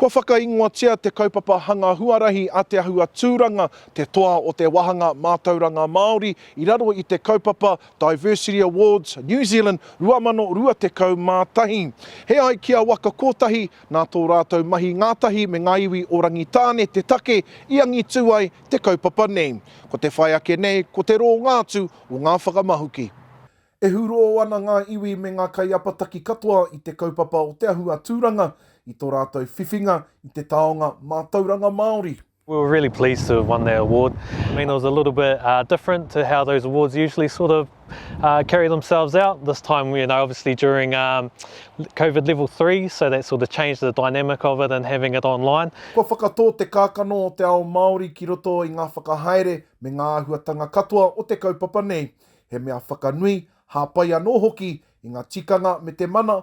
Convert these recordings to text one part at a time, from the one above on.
Kua whakaingoatia te kaupapa hanga huarahi a Te Ahua Tūranga, te toa o te wāhanga mātauranga Māori i raro i te kaupapa Diversity Awards New Zealand 2021. He ai ki a Waka Kotahi, nā tō rātou mahi ngātahi me ngā iwi o Rangitāne te take i angitū ai te kaupapa nei. Ko te whai ake nei, ko te rōnga atu o ngā whakamahuki. E hūrō ana ngā iwi me ngā kaiapataki katoa i te kaupapa o Te Ahu a Tūranga i tō rātou whiwhinga i te taonga mātauranga Māori. We were really pleased to have won that award. I mean it was a little bit different to how those awards usually sort of Uh, carry themselves out this time you know obviously during um, covid level 3 so that sort of changed the dynamic of it and having it online Kua whakatō te kākano o te ao Māori ki roto i ngā whakahaere me ngā āhuatanga katoa o te kaupapa nei. He mea whakanui, hāpai anō hoki i ngā tikanga me te mana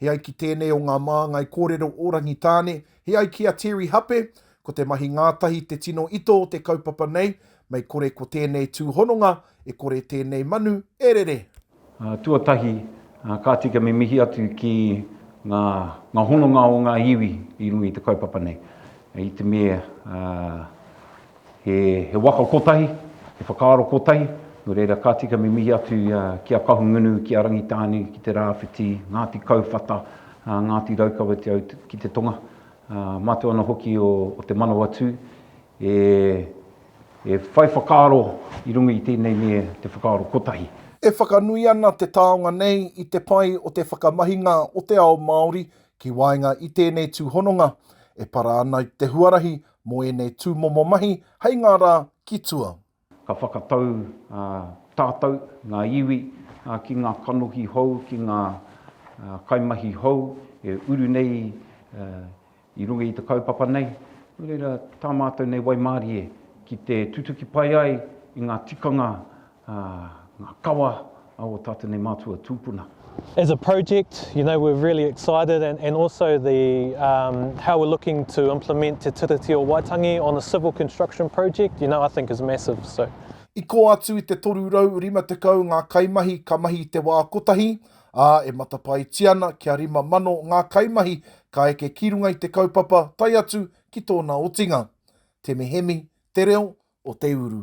He ai ki tēnei o ngā māngai kōrero o Rangitāne, he ai ki a Terry Hape, ko te mahi ngātahi te tino ito o te kaupapa nei, mei kore ko tēnei tūhononga, e kore tēnei manu e rere. Tuatahi, ka tika me mihi atu ki ngā ngā hononga o ngā iwi i runga i te kaupapa nei. I te mea He waka kotahi, he whakaaro kotahi, nō reira ka tika me mihi atu ki a Kahungunu, ki a Rangitāne, ki Te Rāwhiti, Ngāti Kauwhata, Ngāti Raukawa te au ki te tonga, mātou ana hoki o Te Manawatū e whai whakaaro i runga i tēnei me te whakaaro kotahi. E whakanui ana te taonga nei i te pai o te whakamahinga o te ao Māori ki waenga i tēnei tūhononga e para ana i te huarahi Mō ēnei tūmomo mahi hei ngā rā ki tua. Ka whakatau tātou, ngā iwi, ki ngā kanohi hou, ki ngā kaimahi hou e uru nei i runga i te kaupapa nei. Nō reira, tā mātou nei waimarie ki te tutuki pai ai i ngā tikanga ā, ngā kawa a ō tātou nei mātua tūpuna. As a project, you know, we're really excited and, and also the, um, how we're looking to implement Te Tiriti o Waitangi on a civil construction project, you know, I think is massive, so. I kō atu i te 350 ngā kaimahi ka mahi i te wā kotahi, ā, e matapaetia ana kia 5,000 ngā kaimahi ka eke ki runga i te kaupapa tae atu ki tōna otinga, Te Mehemi, Te Reo o Te Uru.